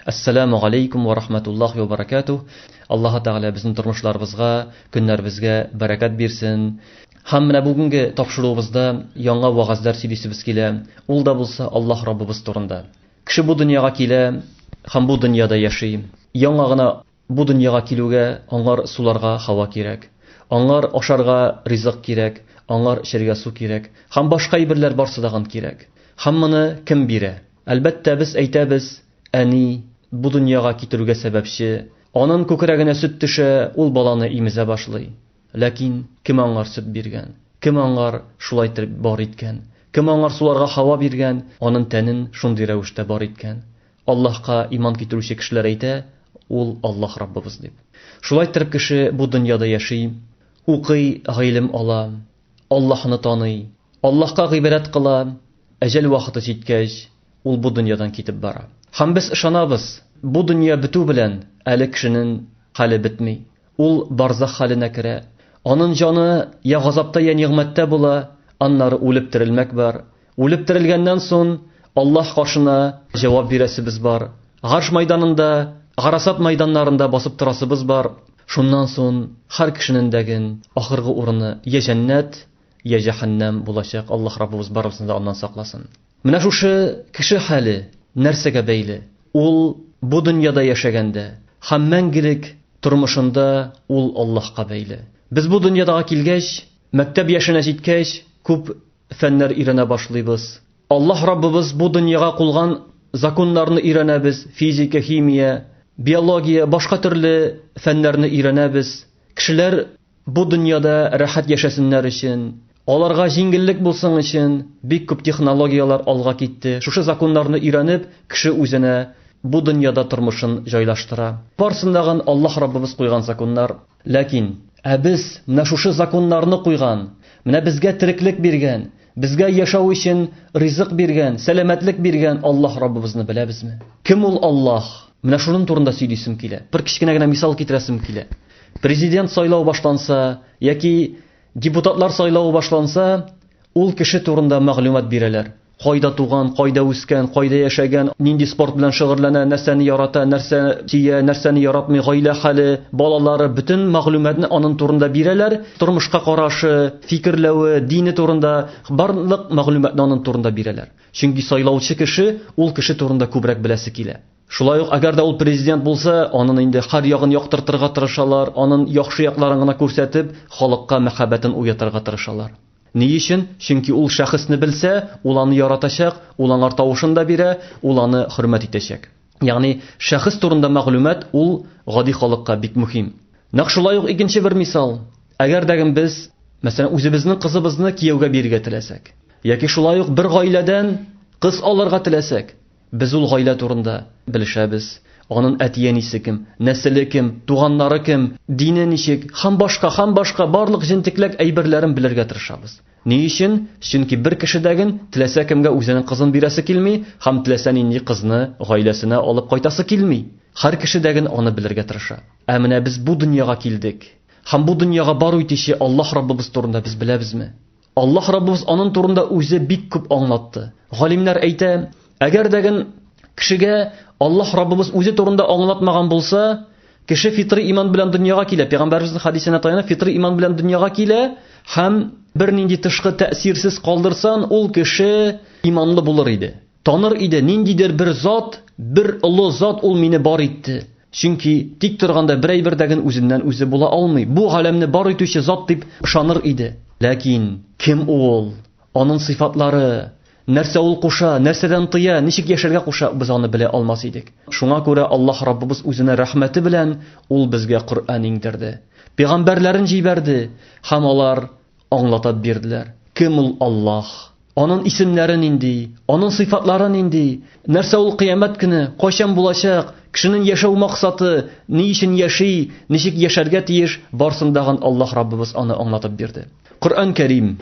Ассаламу алейкум ва рахматуллахи ва баракатух. Аллаһу Тәгалә безнең тормышларыбызга, көннәребезгә бәрәкәт бирсен. Һәм менә бүгенге тапшыруыбызда яңа вагазлар сөйлисебез килә. Ул да булса Аллаһ Раббыбыз турында. Кеше бу дөньяга килә һәм бу дөньяда яши. Яңа гына Бу дөньяга килүгә, аңар суларга һава кирәк, аңар ашарга ризык кирәк, аңар эчәргә су кирәк, һәм башка әйберләр барсы да ган кирәк. Һәм моны кем бирә? Әлбәттә, без әйтәбез, Әни, бу дөньяга китерүгә сәбәпче, анын күкрәгенә сөт төшә, ул баланы имезә башлый. Ләкин кем аңар сөт биргән? Кем аңар шулай итеп бар иткән? Кем аңар суларга һава биргән, анын тәнен шундый рәвештә бар иткән? Аллаһка иман китерүче кешеләр әйтә, Ул, Аллаһ Раббыбыз, дип. Шулай иттереп кеше бу дөньяда яши, укый, гыйлем ала, Аллаһны таный, Аллаһка гыйбадәт кыла, әҗәл вакыты җиткәч, ул бу дөньядан китеп бара. Һәм без ышанабыз, бу дөнья бетү белән әле кешенең хәле бетми. Ул барзах халенә керә. Анын җаны я газапта, я нигъмәттә була, аннары үлеп терелмәк бар. Үлеп терелгәннән сон Аллаһ каршына җавап бирәсебез бар. Гарш майданында, Гарасат майданнарында басып торасыбыз бар. Шуннан сон хәр кешенен дәген ахыргы урыны я җәннәт, я җәһәннәм булачак, Аллаһ Раббыбыз барыбызны да аннан сакласын. Менә шушы кеше хәле нәрсәгә бәйле? Ул бу дөньяда яшәгәндә һәм мәңгелек тормышында ул Аллаһка бәйле. Без бу дөньядага килгәч, мәктәп яшенә җиткәч, күп фәннәр өйрәнә башлыйбыз. Аллаһ Раббыбыз бу дөньяга кулган законнарны өйрәнәбез, физика, химия, биология, башка төрле фәннәрне өйрәнәбез. Кешеләр Бу дөньяда рәхәт яшәсеннәр өчен, аларга җиңеллек булсын өчен бик күп технологияләр алга китте. Шушы законнарны өйрәнеп, кеше үзенә бу дөньяда тормышын җайлаштыра. Барсын да гын Аллаһ Раббыбыз куйган законнар. Ләкин, ә без менә шушы законнарны куйган, менә безгә тереклек биргән, Безгә яшәү өчен ризык биргән, сәламәтлек биргән Аллаһ Раббыбызны беләбезме? Кем ул Аллаһ? Менә шуның турында сөйлисем килә. Бер кечкенә генә мисал китерәсем килә. Президент сайлау башланса яки депутатлар сайлавы башланса, ул кеше турында мәгълүмат бирәләр. Кайда туган, кайда үскән, кайда яшәгән, нинди спорт белән шөгыльләнә, нәрсәне ярата, нәрсә сөя, нәрсәне яратмый, гаилә хәле, балалары, бөтен мәгълүматны аның турында бирәләр. Тормышка карашы, фикерләве, дине турында барлык мәгълүматны аның турында бирәләр. Чөнки сайлаучы кеше ул кеше турында күбрәк беләсе килә. Шулай ук, әгәр дә ул президент булса, анын инде хәр ягын яктыртырга тырышалар, анын яхшы якларын гына күрсәтеп, халыкка мәхәббәтен уятырга тырышалар. Ни өчен? Чөнки ул шәхесне белсә, ул аны яратачак, ул аңар тавышын да бирә, ул аны хөрмәт итәчәк. Ягъни, шәхес турында мәгълүмат ул гади халыкка бик мөһим. Нәкъ шулай ук икенче бер мисал. Әгәр дә без, мәсәлән, үзебезнең кызыбызны кияүгә бирергә теләсәк, яки шулай ук бер гаиләдән кыз алырга теләсәк, без ул гаилә турында белешәбез. Анын әти-әнисе кем, нәселе кем, туганнары кем, дине ничек, һәм башка, һәм башка барлык җентекләк әйберләрен белергә тырышабыз. Ни өчен? Чөнки бер кешедәген теләсә кемгә үзенең кызын бирәсе килми һәм теләсә нинди кызны гаиләсенә алып кайтасы килми. Һәр кешедәген аны белергә тырыша. Ә менә без бу дөньяга килдек. Һәм бу дөньяга бару итүче Аллаһ Раббыбыз турында без беләбезме? Аллаһ Раббыбыз анын турында үзе бик күп аңлатты. Галимнәр әйтә, әгәрдәген кешегә Аллаһ Раббыбыз үзе турында аңлатмаган булса, Кеше фитрый иман белән дөньяга килә. Пәйгамбәребезнең хадисенә таянып, фитрый иман белән дөньяга килә һәм бернинди тышкы тәэсирсез калдырсан, ул кеше иманлы булыр иде. Таныр иде, ниндидер бер зат, бер олы зат ул мине бар итте. Чөнки тик торганда бер әйбер дә гел үзеннән үзе була алмый. Бу галәмне бар итүче зат дип ышаныр иде. Ләкин кем ул? Аның сыйфатлары, Нәрсә ул куша, нәрсәдән тыя, ничек яшәргә куша, без аны белә алмас идек. Шуңа күрә Аллаһ Раббыбыз үзенә рәхмәте белән Ул безгә Коръән иңдерде. Пигамбәрләрен җибәрде һәм алар аңлатап бирделәр. Кем ул Аллаһ? Анын исемнәре нинди? Анын сыйфатлары нинди? Нәрсә ул кыямәт көне? Кайчан булачак? Кешенен яшәү максаты? Ни өчен яши? Ничек яшәргә тиеш? Барсын дагын Аллаһ Раббыбыз аны аңлатып бирде. Коръән Кәрим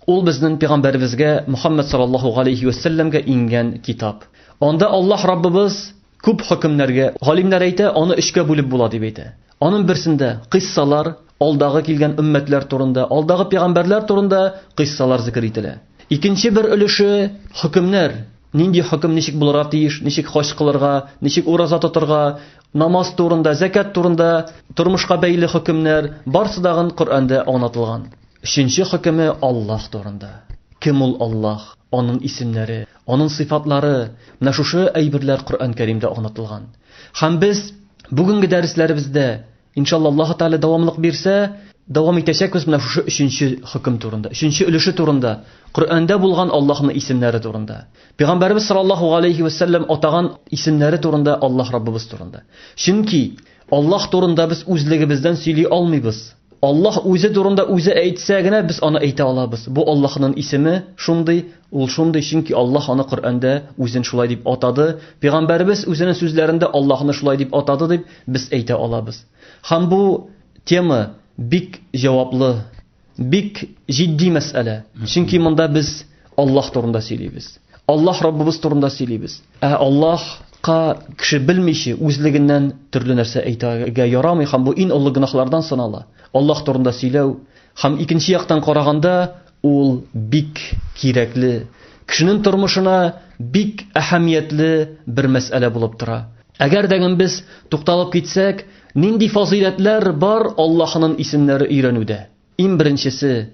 Ул безнең пәйгамбәребезгә Мөхәммәд саллаллаһу алейхи ва сәлләмгә иңгән китап. Анда Аллаһ Раббыбыз күп хөкемнәргә, галимнәр әйтә, аны өчкә бүлеп була дип әйтә. Аның берсендә кыйссалар, алдагы килгән өммәтләр турында, алдагы пәйгамбәрләр турында кыйссалар зикер ителә. Икенче бер өлеше хөкемнәр, нинди хөкем ничек булырга тиеш, ничек хаҗ кылырга, ничек ураза тотырга, намаз турында, закят турында, тормышка бәйле хөкемнәр, барсы дагын Коръәндә аңлатылган. Өченче хөкеме Аллаһ турында. Кем ул Аллаһ, аның исемнәре, аның сыйфатлары, менә шушы әйберләр Коръән Кәримдә аңлатылган. Һәм без бүгенге дәресләребездә, иншалла Аллаһ Тәгалә дәвамлык бирсә, дәвам итәчәкбез менә шушы өченче хөкем турында, өченче өлеше турында, Коръәндә булган Аллаһның исемнәре турында. Пәйгамбәрбез саллаллаһу галәйһи ва сәлләм атаган исемнәре турында, Аллаһ Раббыбыз турында. Чөнки Аллаһ турында без үзлегебездән сөйли алмыйбыз. Аллаһ үзе турында үзе әйтсә генә без аны әйтә алабыз. Бу Аллаһның исеме шундый, ул шундый, чөнки Аллаһ аны Коръәндә үзен шулай дип атады, пәйгамбәребез үзенең сүзләрендә Аллаһны шулай дип атады дип без әйтә алабыз. Һәм бу тема бик җаваплы, бик җитди мәсьәлә. Чөнки монда без Аллаһ турында сөйлибез. Аллаһ Раббыбыз турында сөйлибез. Ә Аллаһка кеше белмичә үзлегеннән төрле нәрсә әйтергә ярамый һәм бу иң олы гөнаһлардан санала. Аллаһ турында сөйләү һәм икенче яктан караганда ул бик кирәкле, кешенең тормышына бик әһәмиятле бер мәсьәлә булып тора. Әгәр дә без тукталып китсәк, нинди фазыйләтләр бар Аллаһның исемнәре өйрәнүдә? Иң беренчесе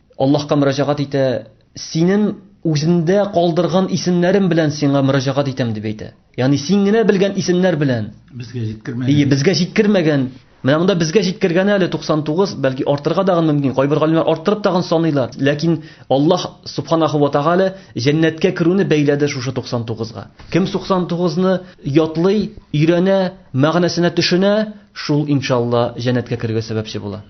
Аллаһка мөрәҗәгать итә, Синең үзендә калдырган исемнәрем белән сиңа мөрәҗәгать итәм дип әйтә. Ягъни син генә белгән исемнәр белән. Безгә җиткермәгән. Ие, безгә җиткермәгән. Менә монда безгә җиткергәне әле 99, бәлки артырга дагы мөмкин. Кайбер галимнәр арттырып тагын саныйлар. Ләкин Аллаһ субханаху ва тагала җәннәткә керүне бәйләде шушы 99 га. Кем 99 ны ятлый, өйрәнә, мәгънәсенә төшенә, шул иншалла җәннәткә керергә сәбәпче була.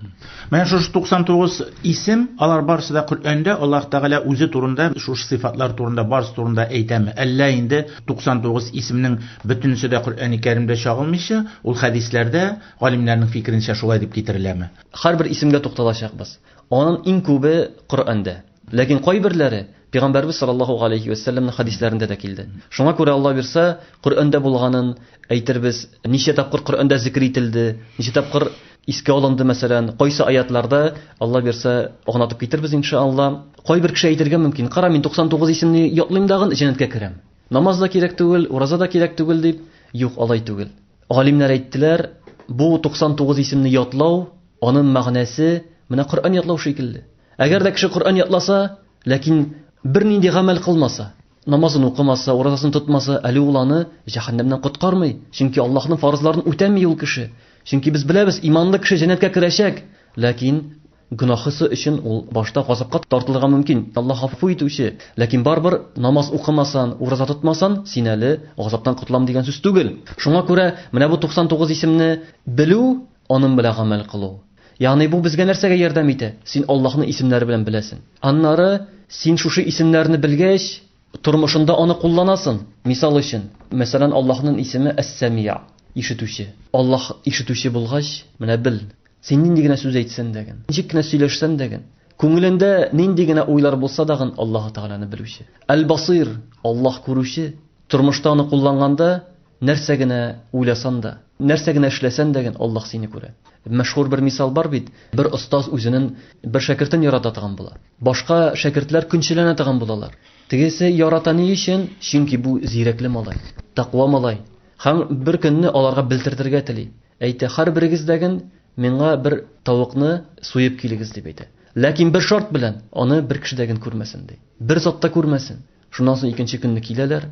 Менә шушы 99 исем, алар барысы да Коръәндә Аллаһ Тәгалә үзе турында, шушы сыйфатлар турында, барысы турында әйтәме? Әллә инде 99 исемнең бөтенесе дә Коръәни Кәримдә чагылмыйча, ул хәдисләрдә, галимнәрнең фикеренчә, шулай дип китереләме? Һәрбер исемгә тукталачакбыз. Аның иң күбе Коръәндә. Ләкин кайберләре Пәйгамбәрбез саллаллаһу галәйһи вә сәлләмнең хәдисләрендә дә килде. Шуңа күрә Алла бирсә, Коръәндә булганын әйтербез, ничә тапкыр Коръәндә зикер ителде, ничә тапкыр искә алынды, мәсәлән, кайсы аятларда, Алла бирсә, агнатып китербез иншаалла. Кайбер кеше әйтергә мөмкин, кара, мин 99 исемне ятлыйм дагын җәннәткә керәм. Намаз да кирәк түгел, ураза да кирәк түгел дип. Юк, алай түгел. Галимнәр әйттеләр, бу 99 исемне ятлау, аның мәгънәсе менә Коръән ятлау шикелле. Әгәр дә кеше Коръән ятласа, ләкин бернинди гамәл кылмаса, намазын укымаса, уразасын тотмаса, әле ул аны җәһәннәмнән коткармый, чөнки Аллаһның фарызларын үтәми ул кеше. Чөнки без беләбез, иманлы кеше җәннәткә керәчәк, ләкин гөнаһысы өчен ул башта газапка тартылырга мөмкин. Аллаһ гафу итүче, ләкин барыбер намаз укымасан, ураза тотмасан, син әле газаптан котылам дигән сүз түгел. Шуңа күрә менә бу 99 исемне белү, аның белән гамәл кылу, Ягъни бу безгә нәрсәгә ярдәм итә? Син Аллаһны исемнәре белән беләсең. Аннары син шушы исемнәрне белгәч, тормышында аны кулланасың. Мисал өчен, мәсәлән, Аллаһның исеме Әс-Сәмиъ, ишетүче. Аллаһ ишетүче булгач, менә бел, син нинди генә сүз әйтсән дә, ничек кенә сөйләшсән дә, күңелендә нинди генә уйлар булса да, Аллаһ Тәгаләне белүче. Әл-Басыйр, Аллаһ күрүче. Тормышта аны кулланганда, Нәрсә генә уйласан да, нәрсә генә эшләсән дә ген Аллаһ сине күрә. Мәшһүр бер мисал бар бит, бер остаз үзенен бер шәкертен ярата тыган була. Башка шәкертләр көнчеләнә тыган булалар. Тегесе ярата ни өчен? Чөнки бу зирәкле малай, тәкъва малай һәм бер көнне аларга белтертергә тели. Әйтә, һәрберегез дә ген миңа бер тавыкны суеп килегез, дип әйтә. Ләкин бер шарт белән, аны бер кеше дә ген күрмәсен, ди. Бер зат та күрмәсен. Шуннан соң икенче көнне киләләр,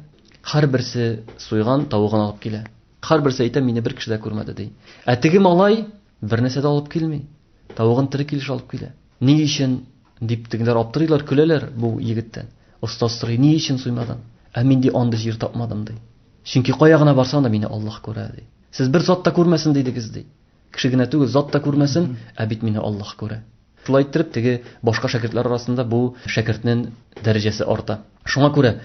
һәрберсе суйган тавыгын алып килә. Һәрберсе әйтә, мине бер кеше дә күрмәде ди. Ә теге малай бер нәрсә дә алып килми. Тавыгын тере килеш алып килә. Ни өчен дип тегеләр аптырыйлар, көләләр бу егеттән. Остаз сорый, ни өчен суймадың? Ә мин ди андый җир тапмадым ди. Чөнки кая гына барсам да мине Аллаһ күрә ди. Сез бер зат та күрмәсен дидегез ди. Кеше генә түгел, зат та күрмәсен, ә бит мине Аллаһ күрә. Шулай иттереп, теге башка шәкертләр арасында бу шәкертнең дәрәҗәсе арта. Шуңа күрә,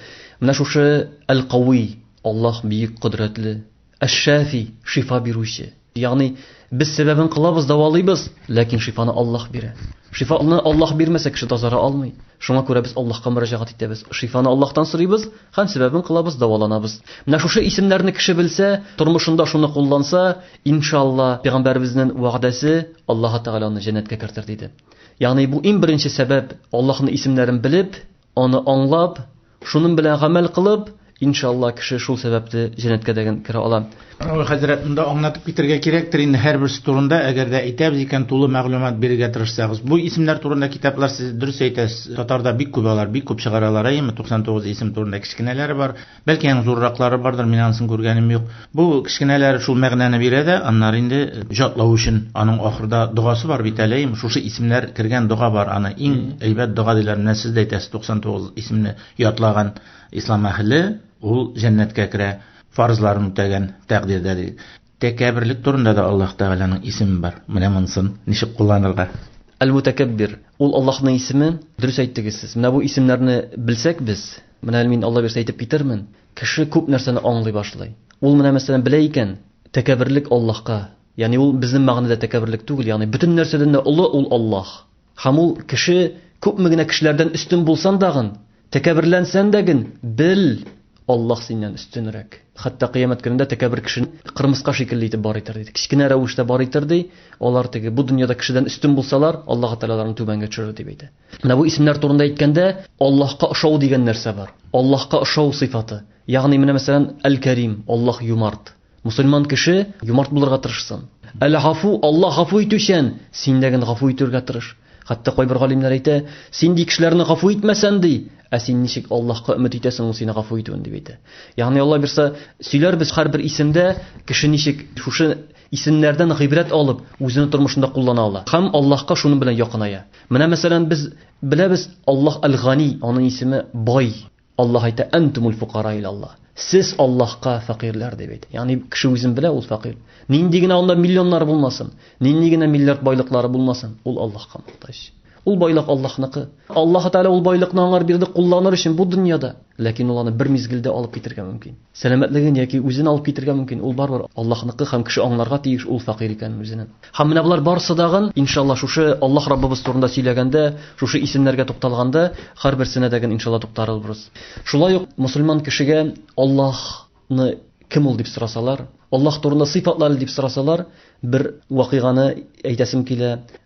менә шушы Әл-Кауи, Аллаһ Бөек Кодрәтле, Әш-Шәфи, шифа бирүче. Ягъни, без сәбәбен кылабыз, дәвалыйбыз, ләкин шифаны Аллаһ бирә. Шифаны Аллаһ бирмәсә, кеше тазара алмый. Шуңа күрә без Аллаһка мөрәҗәгать итәбез, шифаны Аллаһтан сорыйбыз һәм сәбәбен кылабыз, дәваланабыз. Менә шушы исемнәрне кеше белсә, тормышында шуны кулланса, Иншалла, пәйгамбәребезнең вәгъдәсе Аллаһы Тәгалә аны җәннәткә кертер диде. Ягъни бу иң беренче сәбәп, Аллаһның исемнәрен белеп, аны аңлап, шуның белән гамәл кылып, иншалла кеше шул сәбәпле җәннәткә дәген керә ала. Равил хәзрәт, монда аңлатып китәргә кирәктер инде һәрберсе турында, әгәр дә әйтәбез икән, тулы мәгълүмат бирергә тырышсагыз. Бу исемнәр турында китаплар сез дөрес әйтәсез, татарда бик күп алар, бик күп чыгаралар, әйеме, 99 исем турында кечкенәләре бар. Бәлки аның зурраклары бардыр, мин анысын күргәнем юк. Бу кечкенәләр шул мәгънәне бирә дә, аннары инде җатлау өчен аның ахырда догасы бар бит әле, шушы исемнәр кергән дога бар, аны иң әйбәт дога диләр, менә сез дә әйтәсез, 99 исемне ятлаган ислам әһеле, ул җәннәткә керә, фарызларын үтәгән тәкъдирдә ди. Тәкәбберлек турында да Аллаһ Тәгаләнең исеме бар. Менә монысын ничек кулланырга? Әл-Мутәкәббир, ул Аллаһның исеме, дөрес әйттегез сез. Менә бу исемнәрне белсәк без, Менә әле мин, Алла бирсә, әйтеп китермен, кеше күп нәрсәне аңлый башлый. Ул менә мәсәлән белә икән, тәкәбберлек Аллаһка, ягъни ул безнең мәгънәдә тәкәбберлек түгел, ягъни бөтен нәрсәдән дә олы ул Аллаһ. Һәм ул кеше күпме генә кешеләрдән өстен булсан дагын, тәкәбберләнсән дә ген, бел, Аллаһ синнән өстенрәк. Хәтта кыямәт көнендә тәкәббер кешене кырмыска шикелле итеп бар итер, ди. Кечкенә рәвештә бар итер, ди. Алар теге бу дөньяда кешедән өстен булсалар, Аллаһ Тәгалә аларны түбәнгә төшерер, дип әйтә. Менә бу исемнәр турында әйткәндә, Аллаһка ошау дигән нәрсә бар. Аллаһка ошау сыйфаты. Ягъни менә мәсәлән, Әл-Кәрим, Аллаһ юмарт. Мусульман кеше юмарт булырга тырышсын. Әл-Гафу, Аллаһ гафу итүчән, син дә гел гафу итәргә тырыш. Хәтта кайбер галимнәр әйтә, син ди кешеләрне гафу итмәсән ди, ә син ничек Аллаһка өмет итәсең ул сине гафу итүен дип әйтә. Ягъни Алла бирсә, сөйләрбез һәрбер исемдә кеше ничек шушы исемнәрдән гыйбрәт алып, үзенең тормышында куллана ала. Һәм Аллаһка шуның белән якыная. Менә мәсәлән без беләбез Аллаһ Аль-Гани, аның исеме бай. Аллаһ әйтә: "Антумул фукара ил Аллаһ". Сез Аллаһка фәкыйрьләр дип әйтә. Ягъни кеше үзен белә, ул фәкыйрь. Нинди генә анда миллионнар булмасын, нинди генә миллиард байлыклары булмасын, ул Аллаһка мохтаҗ. Ул байлык Аллаһныкы. Аллаһ Тәгалә ул байлыкны аңар бирде кулланыр өчен бу дөньяда, ләкин ул аны бер мизгелдә алып китергә мөмкин. Сәламәтлеген яки үзен алып китергә мөмкин, ул барыбер Аллаһныкы һәм кеше аңларга тиеш ул фәкыйрь икәнен үзенең. Һәм менә болар барысы дагын, иншалла, шушы Аллаһ Раббыбыз турында сөйләгәндә, шушы исемнәргә тукталганда, һәрберсенә дә гын иншалла туктарылбрыз. Шулай ук мөселман кешегә Аллаһ ны кем ул дип сорасалар, Аллаһ турында сыйфатлары дип сорасалар, бер вакыйганы әйтәсем килә,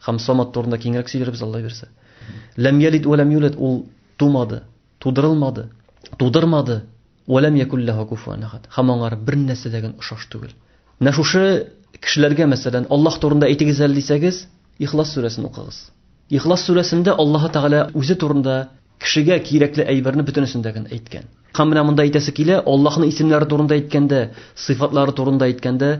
Хәм самат турында киңрәк сөйләрбез Алла бирсә. Ләм ялид ва ләм юлад ул тумады, тудырылмады, тудырмады. Ва ләм якул лаһу куфуан ахад. Хәм аңар бер нәрсә дә генә ошаш түгел. Менә шушы кешеләргә мәсәлән Аллаһ турында әйтегез әле дисәгез, Ихлас сүрәсен укыгыз. Ихлас сүрәсендә Аллаһ Тәгалә үзе турында кешегә кирәкле әйберне бөтенесендә генә әйткән. Хәм менә монда әйтәсе килә, Аллаһның исемнәре турында әйткәндә, сыйфатлары турында әйткәндә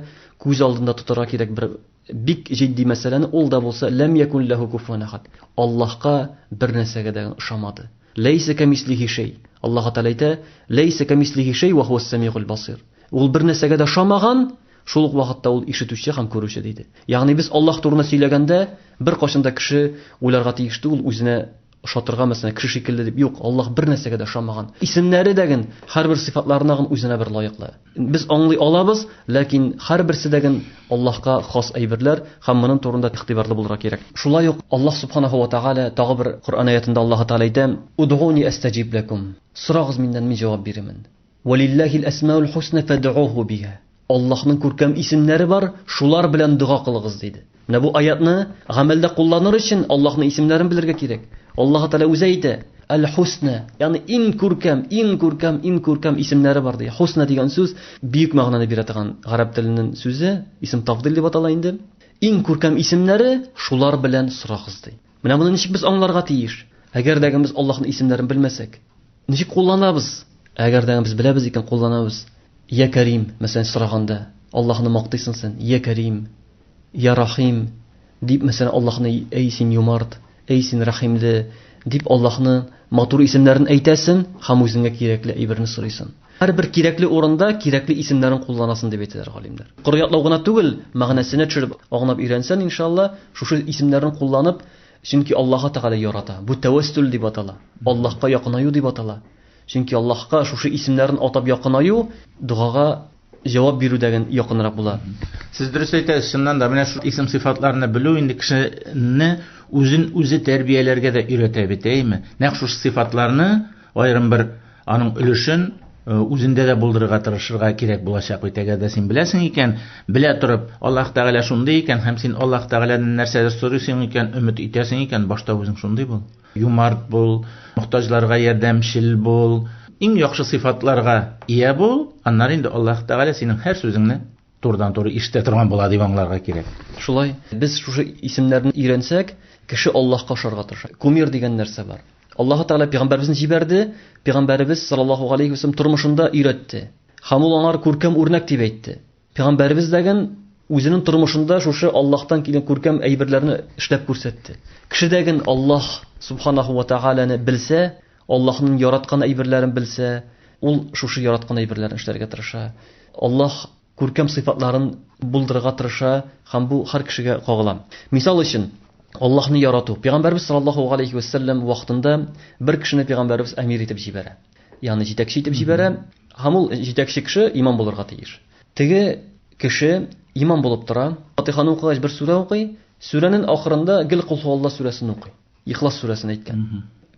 күз алдында тотарга кирәк бер Бик җитди мәсьәләне ул да булса ләм якун ләһү куфуан әхәд. Аллаһка бер нәрсәгә дә ошамады. Ләйсә кәмислиһи шәй. Аллаһы Тәгалә әйтә, Ләйсә кәмислиһи шәй вә һуәс сәмигуль басыйр. Ул бер нәрсәгә дә ошамаган, шул ук вакытта ул ишетүче һәм күрүче, диде. Ягъни без Аллаһ турында сөйләгәндә, беркайчан да кеше уйларга тиеш түгел, үзенә Ошатырга мәсәлән кеше шикелле дип юк, Аллаһ бер нәрсәгә дә ошамаган. Исемнәре дә ген һәрбер сыйфатларына гын үзенә бер лаеклы. Без аңлый алабыз, ләкин һәрберсе дә ген Аллаһка хас әйберләр һәм монын турында игътибарлы булырга кирәк. Шулай ук Аллаһ Субханаһу ва Тәгалә тагы бер Коръән аятында Аллаһы Тәгалә әйтә, Удгуни әстәҗиб ләкум, сорагыз миннән, мин җавап бирермен. Валилләһил әсмәул хусна фәдгуһу биһа. Аллаһның күркәм исемнәре бар, шулар белән дога кылыгыз, диде. Менә бу аятьне гамәлдә кулланыр өчен Аллаһның исемнәрен белергә кирәк. Аллаһы Тәгалә үзе әйтә, Әл-Хусна, ягъни иң күркәм, иң күркәм, иң күркәм исемнәре бар, ди. Хусна дигән сүз бөек мәгънәне бирә торган гарәп теленнән сүзе, исем тафдил дип атала инде. Иң күркәм исемнәре, шулар белән сорагыз, ди. Менә моны ничек без аңларга тиеш? Әгәр дә без Аллаһның исемнәрен белмәсәк, ничек кулланабыз? Әгәр дә без беләбез икән, кулланабыз. Я Кәрим, мәсәлән, сораганда, Аллаһны мактыйсың син, Я Кәрим, Я Рахим, дип, мәсәлән, Аллаһны, әй син юмарт, әй син рәхимле, дип Аллаһны матур исемнәрен әйтәсең һәм үзеңә кирәкле әйберне сорыйсың. Һәрбер кирәкле урында кирәкле исемнәрен кулланасын дип әйтәләр галимнәр. Коры ятлау гына түгел, мәгънәсенә төшереп, аңлап өйрәнсән, иншалла, шушы исемнәрен кулланып, чөнки Аллаһы Тәгалә ярата. Бу тәвәссүл дип атала. Аллаһка якынаю дип атала. Чөнки Аллаһка шушы исемнәрен атап якынаю догага җавап бирүдәген якынрак була. Сез дөрес әйтәсез, чыннан да, менә шул исем сыйфатларны белү инде кешене үзен үзе тәрбияләргә дә өйрәтә бит, әйеме? Нәкъ шушы сыйфатларны аерым бер Аның өлешен Э, үзендә дә булдырырга тырышырга кирәк булачак бит әгәр дә син беләсең икән белә торып аллаһ тәгалә шундый икән һәм син аллаһ тәгаләдән нәрсәдер сорыйсың икән өмет итәсең икән башта үзең шундый бул юмарт бул мохтаҗларга ярдәмчел бул иң яхшы сыйфатларга ия бул аннары инде аллаһ тәгалә синең һәр сүзеңне Турыдан-туры ишетә торган була дип аңларга кирәк. Шулай. Без шушы исемнәрне өйрәнсәк, кеше Аллаһка ошарга тырыша. Кумир дигән нәрсә бар. Аллаһы Тәгалә пигамбәребезне җибәрде, пигамбәребез саллаллаһу галәйһи вәсәлләм тормышында өйрәтте. Һәм ул аңар күркәм үрнәк дип әйтте. Пигамбәребез дәген үзенең тормышында шушы Аллаһтан килгән күркәм әйберләрне эшләп күрсәтте. Кеше дәген Аллаһ субханаһу вә тәгаләне белсә, Аллаһның яраткан әйберләрен белсә, ул шушы яраткан әйберләрне эшләргә тырыша. Аллаһ күркәм сыйфатларын булдырырга тырыша һәм бу һәр кешегә кагыла. Мисал өчен, Аллаһны ярату. Пәйгамбәрбез саллаллаһу галәйһи вә сәлләм вакытында бер кешене пәйгамбәрбез әмир итеп җибәрә. Ягъни җитәкче итеп җибәрә һәм ул җитәкче кеше имам булырга тиеш. Теге кеше имам булып тора, Фатыйханы укыгач бер сүрә укый, сүрәнен ахырында гел Колһуалла сүрәсен укый. Ихлас сүрәсен әйткән.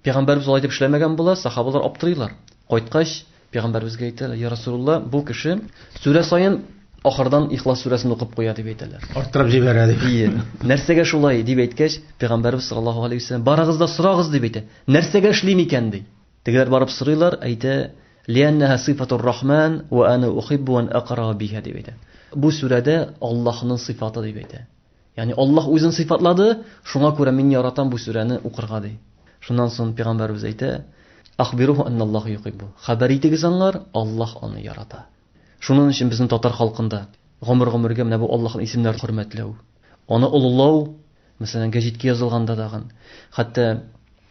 Пәйгамбәрбез алай дип эшләмәгән була, сахабалар аптырыйлар. Кайткач, пәйгамбәрбезгә әйтәләр, "Я Расулулла, бу кеше сүрә саен ахырдан Ихлас сүрәсен укып куя" дип әйтәләр. Арттырып җибәрә дип. Ие. Нәрсәгә шулай дип әйткәч, пәйгамбәрбез саллаллаһу алейһи вәсәлләм, "Барыгыз да сорагыз" дип әйтә. Нәрсәгә эшлим икән ди. Тегеләр барып сорыйлар, әйтә, "Лианнаһа сыйфатур рахман ва ана ухиббу ан акыраа биһа" дип әйтә. Бу сүрәдә Аллаһның сыйфаты дип әйтә. Ягъни Аллаһ үзен сыйфатлады, шуңа күрә мин яратам бу сүрәне укырга, ди. Шуннан соң пәйгамбәребез әйтә, Ахбируху анналлаха юхиббу. Хәбәр итегез аңар, Аллаһ аны ярата. Шунын өчен безнең татар халкында гомер-гомергә менә бу Аллаһның исемнәрен хөрмәтләү, аны олылау, мәсәлән, гәҗиткә язылганда тагын. Хәтта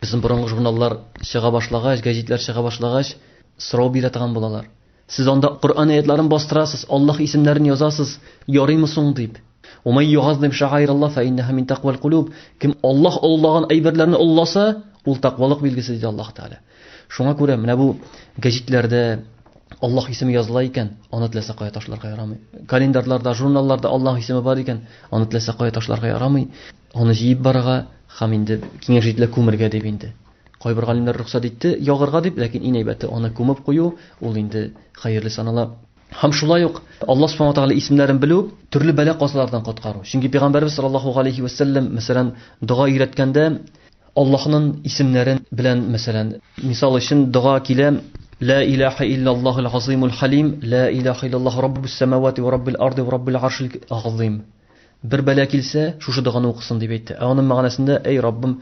безнең борынгы журналлар чыга башлагач, гәҗитләр чыга башлагач, сорау бирә торган булалар. Сез анда Коръән аятларын бастырасыз, Аллаһ исемнәрен язасыз, ярыймы соң дип. Умай югазлым шагайралла фә иннәһа мин тәкъвал кулуб. Кем Аллаһ оллаган әйберләрне олласа, ул тәкъвалык билгесе диде Аллаһ Тәгалә. Шуңа күрә менә бу гәҗитләрдә Аллаһ исеме языла икән, аны теләсә кая ташларга ярамый. Календарьларда, журналларда Аллаһ исеме бар икән, аны теләсә кая ташларга ярамый. Аны җыеп барырга һәм инде киңәш ителә күмергә дип инде. Кайбер галимнәр рөхсәт итте ягырга дип, ләкин иң әйбәте аны күмеп кую, ул инде хәерле санала. Һәм шулай ук Аллаһ Субхану Тагала исемнәрен белү төрле бәла-казалардан коткару. Чөнки пәйгамбәрбез саллаллаһу галәйһи ва сәлләм, мәсәлән, дога өйрәткәндә Аллаһның исемнәрен белән, мәсәлән, мисал өчен дога килә, Лә илаһа иллаллаһул газыймул халим, лә илаһа иллаллаһу раббус самавати ва раббил арды ва раббил аршил газыйм. Бер бәла килсә, шушы доганы укысын, дип әйтте. Ә аның мәгънәсендә, әй Раббым,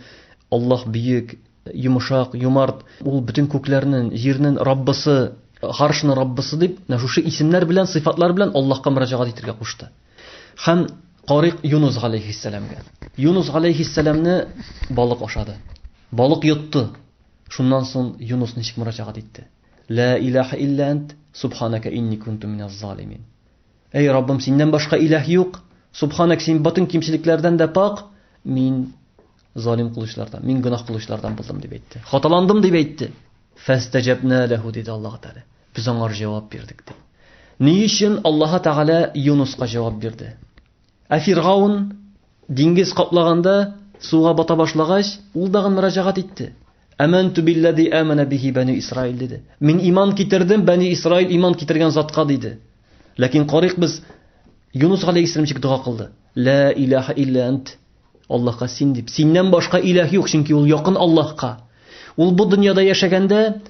Аллаһ бөек, йомшак, юмарт, ул бөтен күкләрнен, җирнен Раббысы, гаршның Раббысы дип, менә шушы исемнәр белән, сыйфатлар белән Аллаһка мөрәҗәгать итергә кушты. Һәм Карик Юнус галәйһиссәламгә. Юнус галәйһиссәламне балык ашады. Балык йотты. Шуннан соң Юнус ничек мөрәҗәгать итте? Ла илаха илля ант, субханака инни кунту миназ залимин. Әй Раббым, синнән башка иләһ юк, субханәк, син батын кимчелекләрдән дә пак, мин залим кылычлардан, мин гөнаһ кылычлардан булдым дип әйтте. Хаталандым дип әйтте. Фәстәҗәбнә ләһу диде Аллаһ Тәгалә. Без аңар җавап бирдек ди. Ни өчен Аллаһ Тәгалә Юнуска җавап бирде? Ә Фиргаун Диңгез каплаганда, суга бата башлагач, ул дагын мөрәҗәгать итте. Әмәнтү билләзи әмәнә биһи бәнү Исраил, диде. Мин иман китердем Бәни Исраил иман китергән затка, диде. Ләкин карыйк без Юнус галәйһиссәлам ничек дога кылды? Лә иләһә илля әнт. Аллаһка син дип. Синнән башка иләһ юк, чөнки ул якын Аллаһка. Ул бу дөньяда яшәгәндә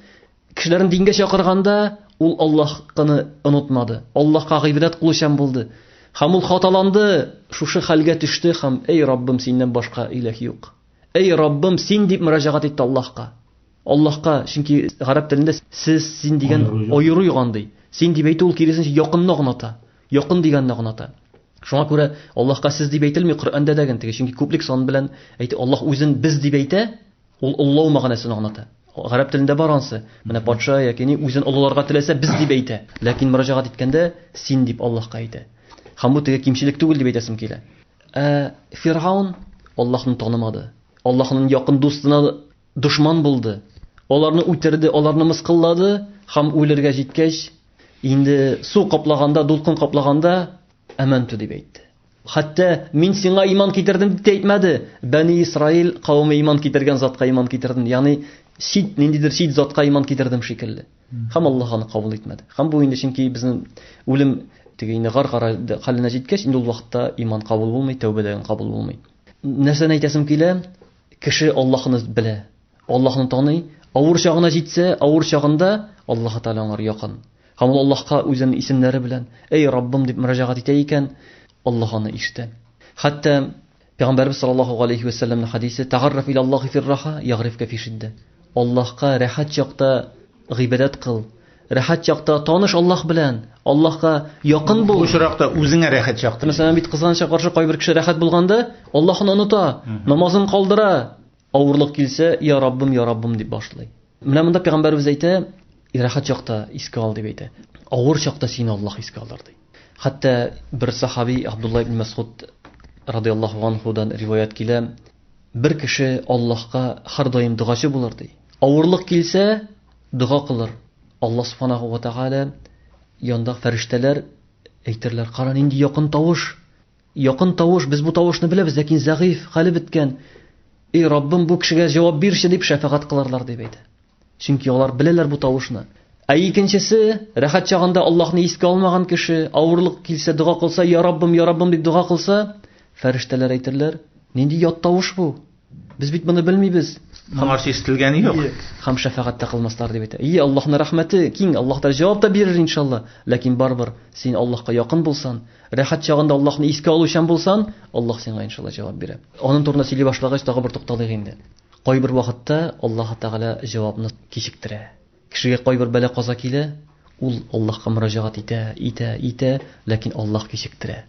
Кешеләрен дингә чакырганда, ул Аллаһкыны онытмады, Аллаһка гыйбадәт кылучан булды. Һәм ул хаталанды, шушы хәлгә төште һәм, Әй Раббым, синнән башка иләһ юк. Әй Раббым, син дип мөрәҗәгать итте Аллаһка. Аллаһка, чөнки гарәп телендә сез, син дигән аеру юган ди. Син дип әйтү ул киресенчә якынны гыната. Якын дигәнне гыната. Шуңа күрә Аллаһка сез дип әйтелми Коръәндә дә генә, чөнки күплек сан белән әйтә. Аллаһ үзен без дип әйтә, Ул олылау мәгънәсен аңлата. Гарәп телендә бар ансы. Менә патша яки ни үзен олыларга теләсә без дип әйтә. Ләкин мөрәҗәгать иткәндә син дип Аллаһка әйтә. Һәм бу теге кимчелек түгел дип әйтәсем килә. Ә Фиргаун Аллаһны танымады. Аллаһның якын дустына дошман булды. Аларны үтерде, аларны мыскыллады һәм үлергә җиткәч, инде су каплаганда, дулкын каплаганда, әмәнту дип әйтте. Хәтта, Мин сиңа иман китердем дип тә әйтмәде. Бәни Исраил кавеме иман китергән затка иман китердем, ягъни чит, ниндидер чит затка иман китердем шикелле. Һәм Аллаһ аны кабул итмәде. Һәм бу инде чөнки безнең үлем теге инде гаргара хәленә җиткәч, инде ул вакытта иман кабул булмый, тәүбәдән кабул булмый. Нәрсәне әйтәсем килә? Кеше Аллаһыны белә, Аллаһыны таный, авыр чагына җитсә, авыр чагында Аллаһы Тәгалә аңар якын. Һәм ул Аллаһка үзенең исемнәре белән, Әй Раббым дип мөрәҗәгать итә икән, Аллаһ аны ишетә. Хәтта Пәйгамбәрбез саллаллаһу галәйһи вә сәлләмнең хәдисе Тәгарраф иля Аллаһи фир-раха, ягърифкә фи шиддә. Аллаһка рәхәт чакта гыйбадәт кыл, Рәхәт чакта таныш Аллаһ белән, Аллаһка якын бул. Бу очракта үзеңә рәхәт чакта. Мәсәлән, бит кызганычка каршы кайбер кеше рәхәт булганда, Аллаһын оныта, намазын калдыра, авырлык килсә, я Раббым, я Раббым дип башлый. Менә монда пәйгамбәрбез әйтә, рәхәт чакта искә ал дип әйтә. Авыр чакта син Аллаһ искә алыр ди. Хәтта бер сахаби Абдулла ибн Мәсгуд радиаллаһу анхудан риваят килә, бер кеше Аллаһка һәрдаим дугачы булыр ди. Авырлык килсә, Дога кылыр. Алла Субханаһу ва Тәгалә янында фәрештәләр әйтерләр, Кара, нинди якын тавыш! Якын тавыш, без бу тавышны беләбез, ләкин зәгыйфь, хәле беткән. Эй, Раббым, бу кешегә җавап бирче, дип шәфәгать кылырлар, дип әйтә. Чөнки алар беләләр бу тавышны. Ә икенчесе, рәхәт чагында Аллаһны искә алмаган кеше, авырлык килсә, дога кылса, Я Раббым, Я Раббым, дип дога кылса, фәрештәләр әйтерләр, Нинди ят тавыш бу! Без бит моны белмибез. Моңарчы ишетелгән юк. Хам шәфәгать тә кылмаслар дип әйтә. И Аллаһның рәхмәте киң, Аллаһ та җавап та бирер иншалла. Ләкин барбер, син Аллаһка якын булсан, рәхәт чагында Аллаһны искә алучан булсан, Аллаһ сиңа иншалла җавап бирә. Аның турында сөйли башлагач, тагы бер тукталыйк инде. Кайбер вакытта Аллаһ Тәгалә җавапны кичектерә. Кешегә кайбер бәла каза килә, ул Аллаһка мөрәҗәгать итә, итә, итә, ләкин Аллаһ кичектерә.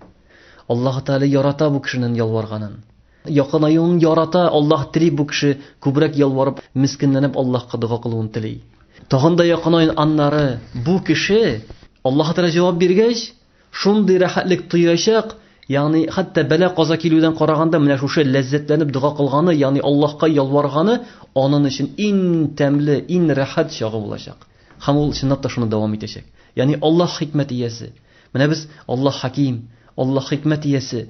Аллаһ Тәгалә ярата бу кешенең ялварганын. Якынаюын ярата, Аллаһ тели бу кеше күбрәк ялварып, мескенләнеп Аллаһка дога кылуын тели. Тагын да якынаюын аннары бу кеше Аллаһ Тәгалә җавап биргәч, шундый рәхәтлек тоячак, ягъни хәтта бәла-каза килүдән караганда менә шушы ләззәтләнеп дога кылганы, ягъни Аллаһка ялварганы анын өчен ин тәмле, ин рәхәт чагы булачак. Һәм ул чынлап та шуны дәвам итәчәк. Ягъни Аллаһ хикмәт иясе. Менә без Аллаһ хәким, Аллаһ хикмәт иясе.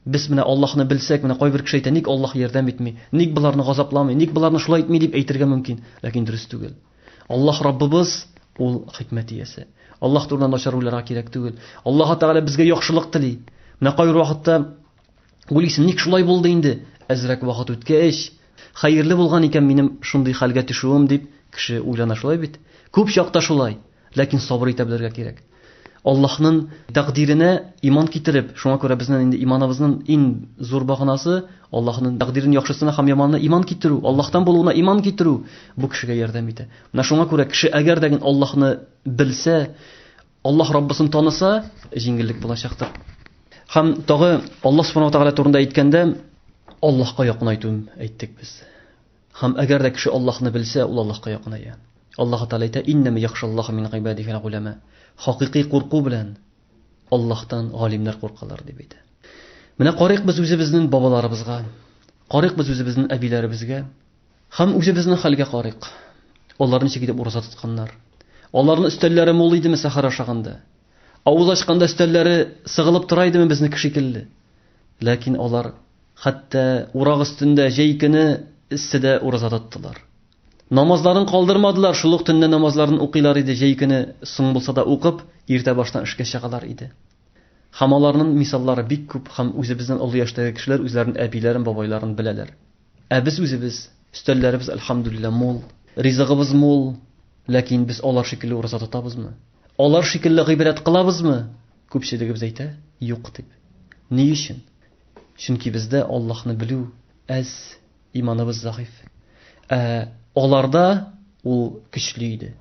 Без менә Аллаһны белсәк, менә кайбер кеше әйтә, ник Аллаһ ярдәм итми, ник боларны газапламый, ник боларны шулай итми дип әйтергә мөмкин, ләкин дөрес түгел. Аллаһ Раббыбыз, Ул хикмәт иясе. Аллаһ турында начар уйларга кирәк түгел. Аллаһы Тәгалә безгә яхшылык тели. Менә кайбер вакытта уйлыйсың, ник шулай булды инде? Әзрәк вакыт үткәч, хәерле булган икән минем шундый хәлгә төшүем дип, кеше уйлана шулай бит. Күп чакта шулай, ләкин сабыр итә белергә кирәк. Аллаһның тәкъдиренә иман китереп, шуңа күрә безнең инде иманыбызның иң зур баганасы Аллаһның тәкъдирен яхшысына һәм яманына иман китерү, Аллаһтан булуына иман китерү бу кешегә ярдәм итә. Менә шуңа күрә кеше әгәр дә гел Аллаһны белсә, Аллаһ Раббысын таныса, җиңеллек булачактыр. Һәм тагы Аллаһ Субханаһу ва Тәгалә турында әйткәндә, Аллаһка якынайту әйттек без. Һәм әгәр дә кеше Аллаһны белсә, ул Аллаһка якыная. Аллаһы Тәгалә әйтә, Иннәмә яхшаллаһа мин гыйбадихи әл-гуламә. Хакыйкый курку белән Аллаһтан галимнәр куркалар, дип әйтә. Менә карыйк без үзебезнең бабаларыбызга, карыйк без үзебезнең әбиләребезгә һәм үзебезнең хәлгә карыйк. Алар ничек итеп ураза тотканнар? Аларның өстәлләре мул идеме сәхәр ашаганда? Авыз ачканда өстәлләре сыгылып тора идеме безнеке шикелле? Ләкин алар хәтта урак өстендә җәй көне эсседә ураза тоттылар. Намазларын калдырмадылар, шул ук төнлә намазларын укыйлар иде, җәй көне соң булса да укып, иртә баштан эшкә чыгалар иде. Һәм аларнын мисаллары бик күп һәм үзебезнен олы яшьтәге кешеләр үзләрен әбиләрен, бабайларын беләләр. Ә без үзебез, өстәлләребез әлхәмдүлиллә мул, ризыгыбыз мул, ләкин без алар шикелле ураза тотабызмы? Алар шикелле гыйбадәт кылабызмы? Күпчелегебез әйтә, Юк, дип. Ни өчен? Чөнки бездә Аллаһны белү әз, иманыбыз зәгыйфь. Ә аларда ул көчле иде.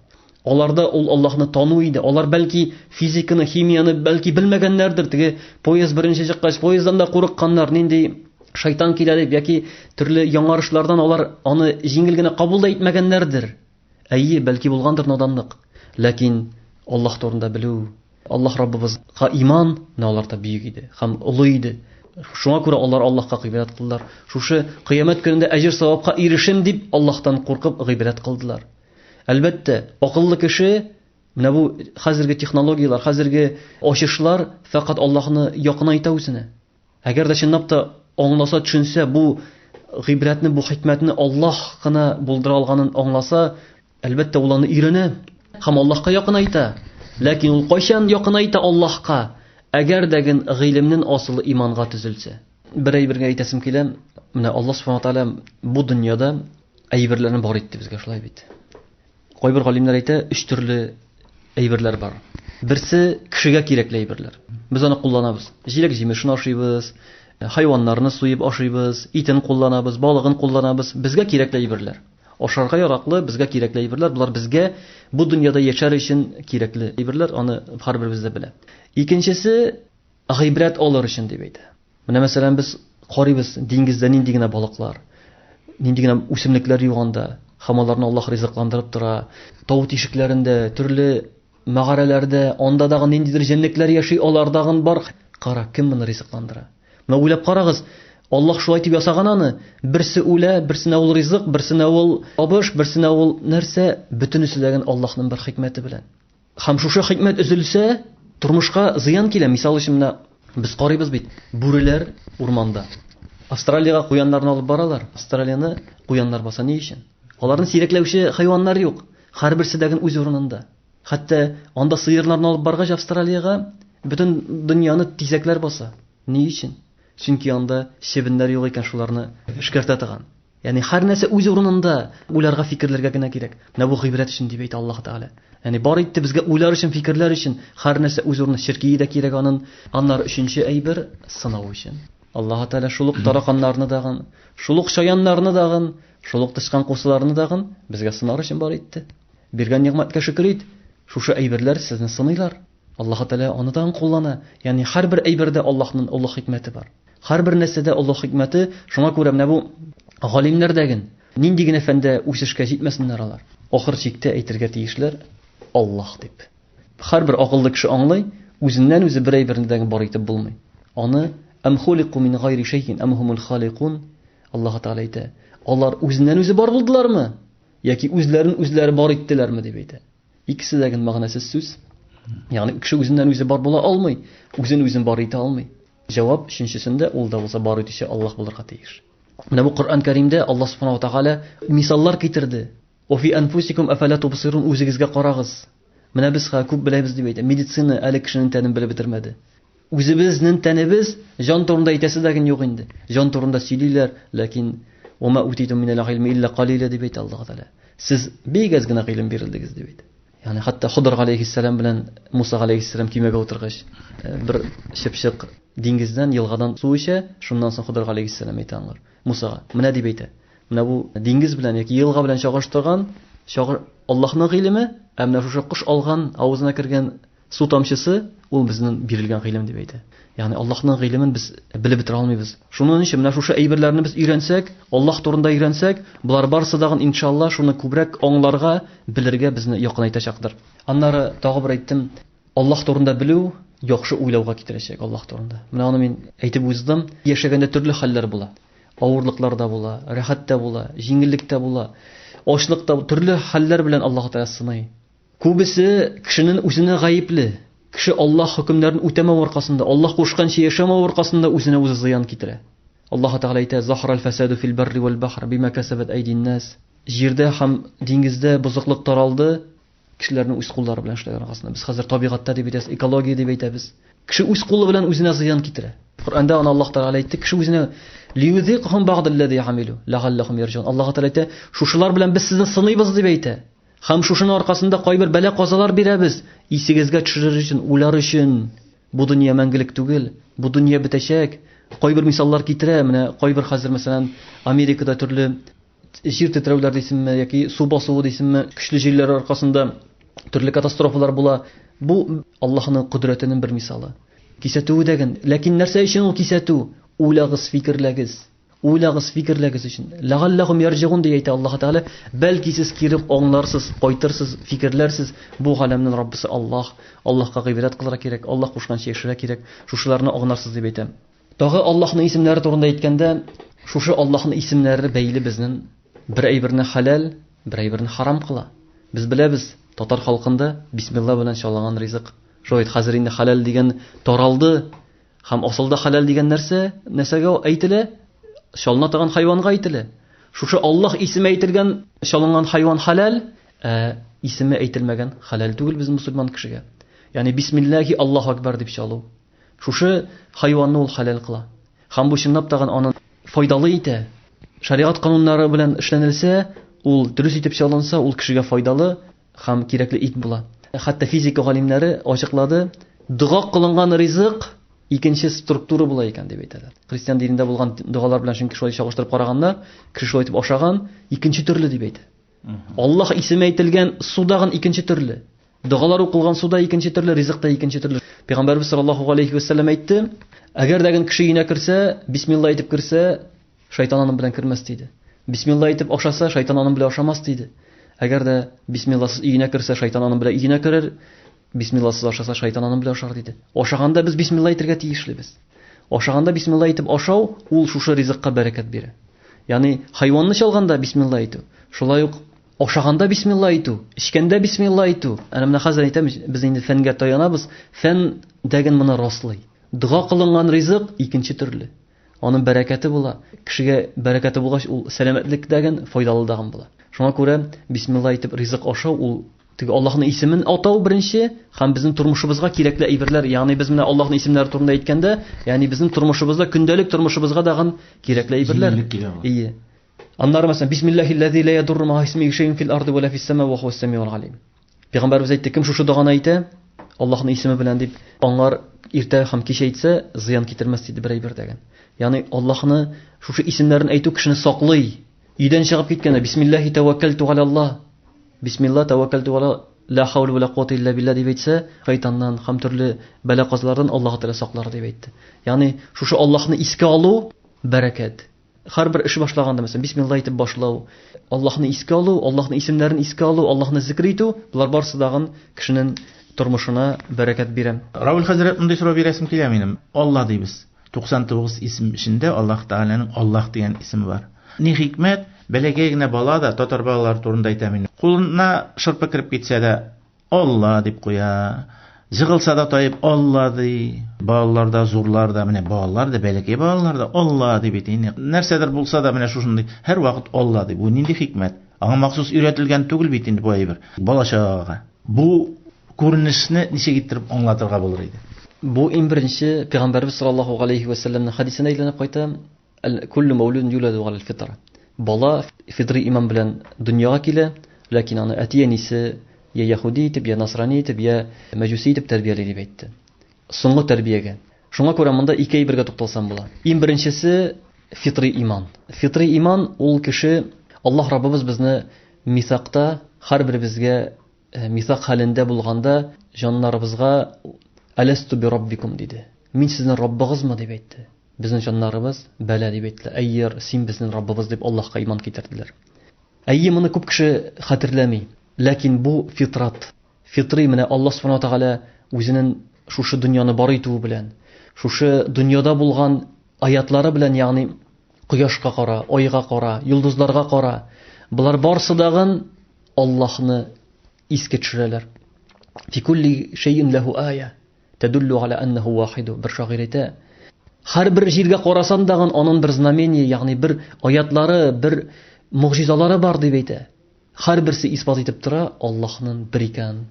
Аларда ул Аллаһны тану иде. Алар бәлки физиканы, химияне бәлки белмәгәннәрдер. Теге поезд беренче чыккач, поезддан да курыкканнар. Нинди шайтан килә дип яки төрле яңарышлардан алар аны җиңел генә кабул да итмәгәннәрдер. Әйе, бәлки булгандыр наданлык, ләкин Аллаһ турында белү, Аллаһ Раббыбызга иман менә аларда бөек иде һәм олы иде. Шуңа күрә алар Аллаһка гыйбадәт кылдылар. Шушы кыямәт көнендә әҗер савапка ирешим дип Аллаһтан куркып гыйбадәт кылдылар. Әлбәттә, акыллы кеше менә бу хәзерге технологияләр, хәзерге ачышлар фәкать Аллаһны якынайта үзенә. Әгәр дә чынлап та аңласа, төшенсә, бу гыйбрәтне, бу хикмәтне Аллаһ кына булдыра алганын аңласа, әлбәттә, ул аны өйрәнә һәм Аллаһка якынайта. Ләкин ул кайчан якынайта Аллаһка? Әгәр дә ген гыйлемнен асылы иманга төзелсә. Бер әйбергә әйтәсем килә, менә Аллаһ Субхану Тааля бу дөньяда әйберләрне бар итте безгә, шулай бит. Кайбер галимнәр әйтә, өч төрле әйберләр бар. Берсе кешегә кирәкле әйберләр. Без аны кулланабыз. Җиләк җимешен ашыйбыз, хайваннарны суеп ашыйбыз, итен кулланабыз, балыгын кулланабыз. Безгә кирәкле әйберләр. Ашарга яраклы, безгә кирәкле әйберләр. Болар безгә бу дөньяда яшәр өчен кирәкле әйберләр, аны һәрберебез дә белә. Икенчесе Гыйбрәт алыр өчен дип әйтә. Менә мәсәлән без карыйбыз диңгездә нинди генә балыклар, нинди генә үсемлекләр юганда, һәм аларны Аллаһ ризыкландырып тора. Тау тишекләрендә, төрле мәгарәләрдә, анда дагы ниндидер җәнлекләр яши, алар дагын бар. Кара, кем моны ризыкландыра? Менә уйлап карагыз, Аллаһ шулай итеп ясаган аны, берсе үлә, берсенә ул ризык, берсенә ул табыш, берсенә ул нәрсә, бөтенесе дә Аллаһның бер хикмәте белән. Һәм шушы хикмәт өзелсә, тормышка зыян килә. Мисал өчен, менә без карыйбыз бит, бүреләр урманда. Австралиягә куяннарны алып баралар. Австралияны куяннар баса ни өчен? Аларны сирәкләүче хайваннар юк. Һәрберсе дә үз урынында. Хәтта анда сыерларны алып баргач Австралиягә, бөтен дөньяны тизәкләр баса. Ни өчен? Чөнки анда чебеннәр юк икән, шуларны эшкәртә торган. Ягъни һәрнәрсә үз урынында, уйларга, фикерләргә генә кирәк. Менә бу гыйбрәт өчен дип әйтә Аллаһ Тәгалә. Ягъни бар итте безгә уйлар өчен, фикерләр өчен, һәрнәрсә үз урынында, черкие дә кирәк анын. Аннары өченче әйбер, сынау өчен. Аллаһ Тәгалә шул ук тараканнарны дагын, шул ук чаяннарны дагын, шул ук тычкан кусыларны дагын безгә сынар өчен бар итте. Биргән нигъмәткә шөкер ит, шушы әйберләр сезне сыныйлар. Аллаһы Тәгалә аны тагын куллана. Ягъни һәрбер әйбердә Аллаһның олы хикмәте бар. Һәрбер нәрсәдә олы хикмәте, шуңа күрә менә бу галимнәр дә ген, нинди генә фәндә үсешкә җитмәсеннәр алар, ахыр чиктә әйтергә тиешләр, Аллаһ дип. Һәрбер акыллы кеше аңлый, үзеннән-үзе бер әйберне дә ген бар итеп булмый. Аны Әм хулику мин гайри шәйин әм һумул халикун, Аллаһы Тәгалә әйтә, алар үзеннән-үзе бар булдылармы, яки үзләрен-үзләре бар иттеләрме, дип әйтә. Икесе дә гел мәгънәсез сүз. Ягъни кеше үзеннән үзе бар була алмый, үзен үзен бар итә алмый. Җавап өченчесендә ул да булса бар итүче Аллаһ булырга тиеш. Менә бу Коръән Кәримдә Аллаһ Субханаһу Тагәлә мисаллар китерде. Офи анфусикум афәлә тубсирун үзегезгә карагыз. Менә без хә күп беләбез дип әйтә. Медицина әле кешенең тәнен белеп бетермәде. Үзебезнен тәнебез, җан турында әйтәсе дә ген юк инде. Җан турында сөйлиләр, ләкин Ума утиту минәл гыйлме илля калиля дип әйтә Аллаһ Тәгалә. Сез бик әз генә гыйлем бирелдегез дип әйтә. Ягъни хәтта Хыдыр галәйһиссәлам белән Муса галәйһиссәлам кимәгә утыргач, э, бер чыпчык диңгездән, елгадан су эчә, шуннан соң Хыдыр галәйһиссәлам әйтә аңар, Мусага, менә дип әйтә. Менә бу диңгез белән яки елга белән чагыштырган, чагы Аллаһның гыйлеме, ә менә шушы кош алган, авызына кергән Су тамчысы ул безнең бирелгән гыйлем дип әйтә. Ягъни Аллаһның гыйлемен без белеп бетә алмыйбыз. Шуның өчен менә шушы әйберләрне без өйрәнсәк, Аллаһ турында өйрәнсәк, болар барысы да иншалла шуны күбрәк аңларга, белергә безне якынайтачактыр. Аннары тагы бер әйттем, Аллаһ турында белү яхшы уйлауга китерәчәк Аллаһ турында. Менә аны мин әйтеп уздым. Яшәгәндә төрле хәлләр була. Авырлыклар да була, рәхәт тә була, җиңеллек тә була. Ачлык та төрле хәлләр белән Аллаһ Тәгалә сыный. Күбесе кешенен үзенә гаепле. Кеше Аллаһ хөкемнәрен үтәмәү аркасында, Аллаһ кушканча яшәмәү аркасында үзенә үзе зыян китерә. Аллаһы Тәгалә әйтә, Захарал фәсаду фил барри вәл бахр бима кәсәбәт әйдин нас. Җирдә һәм диңгездә бозыклык таралды, кешеләрнең үз куллары белән эшләгән аркасында. Без хәзер табигатьтә дип әйтәбез, экология дип әйтәбез. Кеше үз кулы белән үзенә зыян китерә. Коръәндә аны Аллаһ Тәгалә әйтте, кеше үзенә лиюзикхум багдаллази амилу ләгаллахум ярҗун. Аллаһы Тәгалә әйтә, шушылар белән без сезне сыныйбыз дип әйтә. Хам шушының аркасында кайбер бәла-казалар бирәбез, исегезгә төшерер өчен, уйлар өчен. Бу дөнья мәңгелек түгел, бу дөнья бетәчәк. Кайбер мисаллар китерә, менә кайбер хәзер, мәсәлән, Америкада төрле җир тетрәүләр дисеңме, яки су басуы дисеңме, көчле җилләр аркасында төрле катастрофалар була. Бу Аллаһының кодрәтенең бер мисалы. Кисәтүе дә гел. Ләкин нәрсә өчен ул кисәтү? Уйлагыз, фикерләгез. Уйлагыз, фикерләгез өчен. Ләгалләхум ярҗигун ди әйтә Аллаһ Тәгалә. Бәлки сез кире аңларсыз, кайтырсыз, фикерләрсез. Бу галәмнең Раббысы Аллаһ. Аллаһка гыйбадәт кылырга кирәк, Аллаһ кушканча яшәргә кирәк. Шушыларны аңларсыз дип әйтәм. Тагы Аллаһның исемнәре турында әйткәндә, шушы Аллаһның исемнәре бәйле безнең бер әйберне халәл, бер әйберне харам кыла. Без беләбез, татар халкында бисмилла белән чалынган ризык. Шулай хәзер инде халәл дигән таралды. Һәм асылда хәләл дигән нәрсә нәрсәгә әйтелә? Чалына торган хайванга әйтелә. Шушы Аллаһ исеме әйтелгән чалынган хайван хәләл, ә исеме әйтелмәгән хәләл түгел без мусульман кешегә. Ягъни бисмиллахи Аллаһу акбар дип чалу. Шушы хайванны ул хәләл кыла. Һәм бу чынлап тагын аны файдалы итә. Шәригать кануннары белән эшләнелсә, ул дөрес итеп чалынса, ул кешегә файдалы, Һәм кирәкле ит була. Хәтта физика галимнәре ачыклады, дога кылынган ризык икенче структура була икән дип әйтәләр. Христиан динендә булган догалар белән чөнки шулай чагыштырып караганда, кеше шулай итеп ашаган, икенче төрле дип әйтә. Аллаһ исеме әйтелгән судагын икенче төрле. Догалар укылган суда икенче төрле, ризык та икенче төрле. Пәйгамбәрбез саллаллаһу алейхи ва саллям әйтте, әгәр дә кеше өенә керсә, бисмилла әйтеп керсә, Шайтан аның белән кермәс диде. Бисмилла әйтеп ашаса, шайтан аның белән ашамас диде. Әгәр дә бисмилласыз өенә керсә, шайтан аның белән өенә керер, бисмилласыз ашаса, шайтан аның белән ашар диде. Ашаганда без бисмилла әйтергә тиешлебез. Ашаганда бисмилла әйтеп ашау, ул шушы ризыкка бәрәкәт бирә. Ягъни хайванны чалганда бисмилла әйтү, шулай ук ашаганда бисмилла әйтү, эчкәндә бисмилла әйтү. Әнә менә хәзер әйтәм, без инде фәнгә таянабыз. Фән дәген моны раслый. Дога кылынган ризык икенче төрле. Аның бәрәкәте була. Кешегә бәрәкәте булгач, ул сәламәтлек дә гән, файдалы да гән була. Шуңа күрә бисмилла әйтеп ризык ашау ул теге Аллаһның исемен атау беренче һәм безнең тормышыбызга кирәкле әйберләр, ягъни без менә Аллаһның исемнәре турында әйткәндә, ягъни безнең тормышыбызда көндәлек тормышыбызга да гән кирәкле әйберләр. Ие. Аннары мәсәлән, бисмиллахи ләзи ла ядурру ма исми шәйун фил арды ва ла фис сама ва хуа сәмиул алим. Пәйгамбәрбез әйтте, кем шушы доганы әйтә, Аллаһның исеме белән дип, аңар иртә һәм кич әйтсә, зыян китермәс диде бер әйбер дәген. Ягъни Аллаһны шушы исемнәрен әйтү кешене саклый. Өйдән чыгып киткәндә бисмиллаһи тәвәккәлту алалла. Бисмилла тәвәккәлту ала ла хаул ва ла куата илля билла дип әйтсә, шайтаннан һәм төрле бәла-казалардан Аллаһ Тәгалә саклар дип әйтте. Ягъни шушы Аллаһны искә алу бәрәкәт. Һәрбер эш башлаганда, мәсәлән, бисмилла әйтеп башлау, Аллаһны искә алу, Аллаһның исемнәрен искә алу, Аллаһны зикер итү, болар барысы дагын кешенең тормышына бәрәкәт бирә. Равил хәзрәт, мондый сорау бирәсем килә минем. Алла дибез. 99 исем эчендә Аллаһ Тәгаләнең Аллаһ дигән исеме бар. Ни хикмәт, бәләкәй генә бала да, татар балалары турында әйтәм инде, кулына шырпы кереп китсә дә, Алла дип куя. Җыгылса да таеп Алла ди. Балалар да, зурлар да, менә балалар да, бәләкәй балалар да Алла ди бит инде. Нәрсәдер булса да менә шушындый һәр вакыт Алла ди. Бу нинди хикмәт? Аңа махсус өйрәтелгән түгел бит инде бу әйбер. Балачага. Бу күренешне ничек иттереп аңлатырга булыр иде? Бу иң беренче пәйгамбәрбез саллаллаһу галәйһи вә сәлләмнең хәдисенә әйләнеп кайта. Күлле мәүлүден юләду гал фитр. Бала фитри иман белән дөньяга килә, ләкин аны әти-әнисе я яһуди итеп, я насрани итеп, я мәҗүси итеп тәрбияли дип әйтте. Соңгы тәрбиягә. Шуңа күрә монда ике әйбергә тукталсам була. Иң беренчесе фитри иман. Фитри иман ул кеше Аллаһ Раббыбыз безне мисакта һәрберебезгә э, мисак хәлендә булганда җаннарыбызга Аласту би раббикум диде. Мин сезнең Раббыгызмы дип әйтте. Безнең җаннарыбыз, бәла, дип әйттеләр. Әйер, син безнең Раббыбыз, дип Аллаһка иман китерделәр. Әйе, моны күп кеше хәтерләми, ләкин бу фитрат, фитри менә Аллаһ Субхану Тәгалә үзенең шушы дөньяны бар итүе белән, шушы дөньяда булган аятлары белән, ягъни кояшка кара, айга кара, йолдызларга кара, болар барсы дагын Аллаһны искә төшерәләр. Фикулли шәйин ләһу ая. Тәдуллу галя аннаху вахиду. Бер шагыйрь әйтә, һәрбер җиргә карасаң дагын анын бер знамение, ягъни бер аятлары, бер могҗизалары бар дип әйтә. Һәрберсе исбат итеп тора Аллаһның бер икәнен.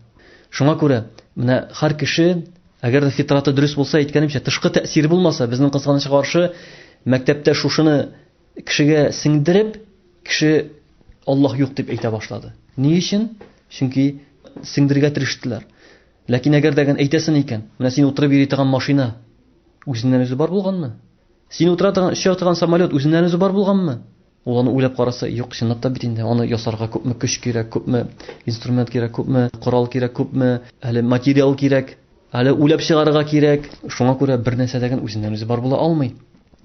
Шуңа күрә менә һәр кеше, әгәр дә фитраты дөрес булса, әйткәнемчә, тышкы тәэсир булмаса, безнең кызганычка каршы мәктәптә шушыны кешегә сеңдереп, кеше Аллаһ юк дип әйтә башлады. Ни өчен? Чөнки сеңдергә тирештеләр. Ләкин әгәр дә гән әйтәсен икән, менә син утырып йөри торган машина үзеннән үзе бар булганмы? Син утыра торган, оча торган самолет үзеннән үзе бар булганмы? Ул аны уйлап караса, юк, чынлап та бит инде, аны ясарга күпме көч кирәк, күпме инструмент кирәк, күпме корал кирәк, күпме әле материал кирәк, әле уйлап чыгарырга кирәк. Шуңа күрә бер нәрсә дә гән үзеннән үзе бар була алмый.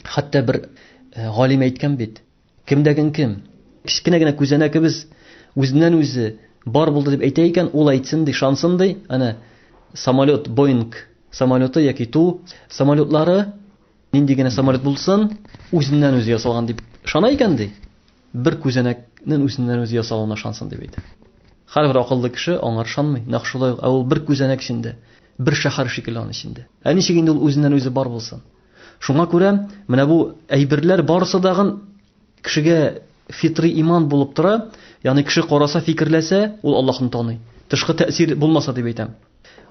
Хәтта бер галим әйткән бит, Кемдәген кем? Кечкенә генә күзәнәкебез үзеннән-үзе бар булды дип әйтә икән, ул әйтсен ди, ышансын ди. Әнә самолет, Боинг самолеты яки Ту самолетлары, нинди генә самолет булсын, үзеннән-үзе ясалган дип ышана икән ди. Бер күзәнәкнең үзеннән-үзе ясалуына ышансын дип әйтә. Һәрбер акыллы кеше аңар ышанмый. Нәкъ шулай ук, ә ул бер күзәнәк эчендә, бер шәһәр шикелле аның эчендә. Ә ничек инде ул үзеннән-үзе бар булсын? Шуңа күрә менә бу әйберләр барысы дагын кешегә фитри иман булып тора, ягъни кеше караса, фикерләсә, ул Аллаһны таный. Тышкы тәэсир булмаса дип әйтәм.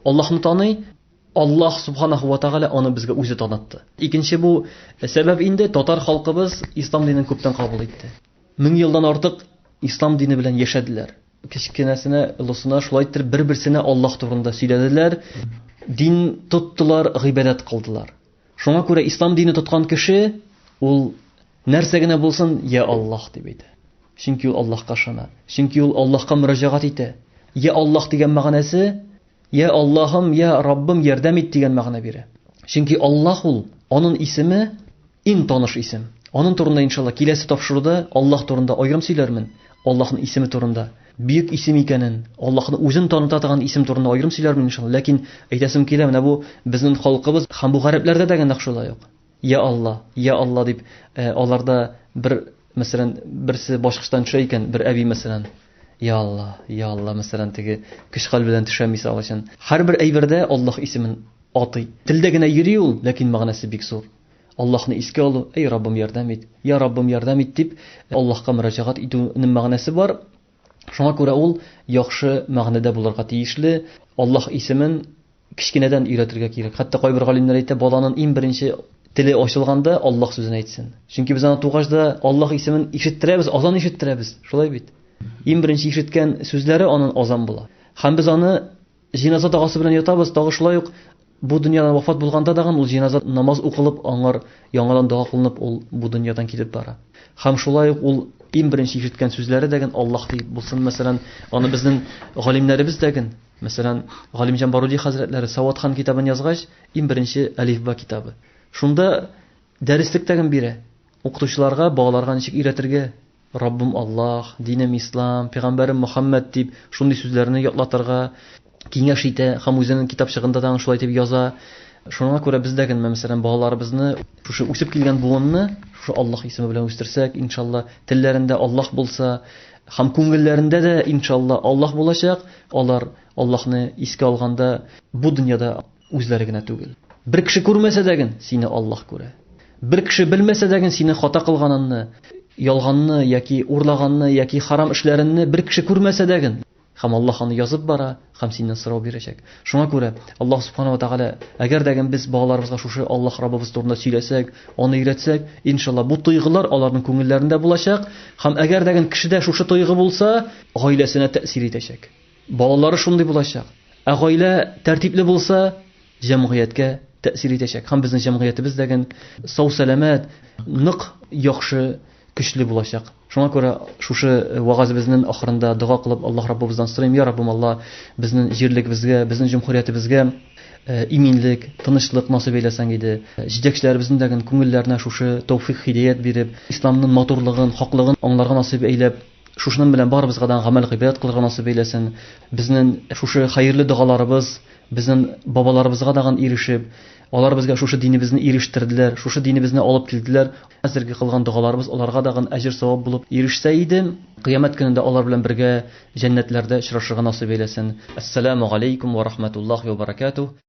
Аллаһны таный, Аллаһ субханаху ва тәгалә аны безгә үзе танытты. Икенче бу сәбәп инде татар халкыбыз ислам динен күптән кабул итте. Мең елдан артык ислам дине белән яшәделәр. Кечкенәсенә, олысына шулай иттереп бер-берсенә Аллаһ турында сөйләделәр, дин тоттылар, гыйбадәт кылдылар. Шуңа күрә ислам дине тоткан кеше ул нәрсә генә булсын, я Аллаһ дип әйтә. Чөнки ул Аллаһка ышана. Чөнки ул Аллаһка мөрәҗәгать итә. Я Аллаһ дигән мәгънәсе, я Аллаһым, я Раббым, ярдәм ит дигән мәгънә бирә. Чөнки Аллаһ ул, аның исеме, Иң таныш исем. Анын турында иншалла киләсе тапшыруда Аллаһ турында аерым сөйләрмен, Аллаһнын исеме турында. Бөек исем икәнен, Аллаһны үзен таныта торган исем турында аерым сөйләрмен иншалла, ләкин әйтәсем килә, менә бу безнен халкыбыз һәм бу гарәпләрдә дә нәкъ шулай ук. Йә Алла, йә Алла дип аларда бер мәсәлән берсе башкычтан төшә икән, бер әби мәсәлән, Йә Алла, йә Алла мәсәлән теге көч-хәл белән төшә мисал өчен. Һәрбер әйбердә Аллаһ исемен атый. Телдә генә йөри ул, ләкин мәгънәсе бик зур. Аллаһны искә алу, Әй Раббым, ярдәм ит! Йә Раббым, ярдәм ит! дип, Аллаһка мөрәҗәгать итү нем мәгънәсе бар. Шуңа күрә ул яхшы мәгънәдә булырга тиешле. Аллаһ исемен кечкенәдән өйрәтергә кирәк. Хәтта кайбер галимнәр әйтә, баланын иң беренче теле ачылганда Аллаһ сүзен әйтсен. Чөнки без аны тугач да Аллаһ исемен ишеттерәбез, азан ишеттерәбез. Шулай бит? Иң беренче ишеткән сүзләре анын азан була. Һәм без аны Җеназа догасы белән ятабыз, тагы шулай ук бу дөньядан вафат булганда дагын ул җеназа намаз укылып, аңар яңадан дога кылынып ул бу дөньядан китеп бара. Һәм шулай ук ул иң беренче ишеткән сүзләре дәген Аллаһ дип булсын, мәсәлән, аны безнең галимнәребез дәген, мәсәлән, Галимҗан Баруди хәзрәтләре Саватхан китабын язгач, иң беренче Әлифба китабы. Шунда дәреслек дәген бирә. Укытучыларга балаларга ничек өйрәтергә? Раббым Аллаһ, динем Ислам, пәйгамбәрем Мөхәммәд дип шундый сүзләрне ятлатырга киңәш итә һәм үзенең китапчыгында тагын шулай дип яза. Шуңа күрә без дә генә, мәсәлән, балаларыбызны шушы үсеп килгән буынны шушы Аллаһ исеме белән үстерсәк, иншалла, телләрендә Аллаһ булса, һәм күңелләрендә дә, иншалла, Аллаһ булачак, алар Аллаһны искә алганда бу дөньяда, Үзләре генә түгел. Бер кеше күрмәсә дә ген, сине Аллаһ күрә. Бер кеше белмәсә дә ген, сине хата кылганынны, ялганны яки урлаганны яки харам эшләренне бер кеше күрмәсә дә ген, һәм Аллаһ аны язып бара һәм синнән сорау бирәчәк. Шуңа күрә Аллаһ Субхана ва Тәгалә, әгәр дә ген без балаларыбызга шушы Аллаһ Раббыбыз турында сөйләсәк, аны өйрәтсәк, иншалла, бу тойгылар аларның күңелләрендә булачак, һәм әгәр дә ген кешедә шушы тойгы булса, гаиләсенә тәэсир итәчәк. Балалары шундый булачак. Ә гаилә тәртипле булса, җәмгыятькә тәэсир итәчәк. Һәм безнең җәмгыятебез дә ген сау-сәламәт, нык, яхшы, көчле булачак. Шуңа күрә шушы э, вагазебезнең ахырында дога кылып Аллаһ Раббыбыздан сорыйм, я Раббым Алла, безнең җирлегебезгә, безнең җөмһүриятебезгә э, иминлек, тынычлык насыйп әйләсәң иде. Э, җитәкчеләребезнең дә күңелләренә шушы тәүфик хидәят биреп, исламның матурлыгын, хаклыгын аңларга насыйп әйләп, Шушының белән барыбызга да гамәл гыйбрәт кылырга насыйп әйләсен. Безнең шушы хәерле догаларыбыз безнең бабаларыбызга даган ирешеп, алар безгә шушы динебезне ирештерделәр, шушы динебезне алып килделәр. Хәзерге кылган догаларыбыз аларга даган әҗер-савап булып ирешсә иде. Кыямәт көнендә алар белән бергә җәннәтләрдә очрашырга насыйп әйләсен. Әссәламү галәйкүм вә рахмәтуллаһи вә бәрәкәтүһ.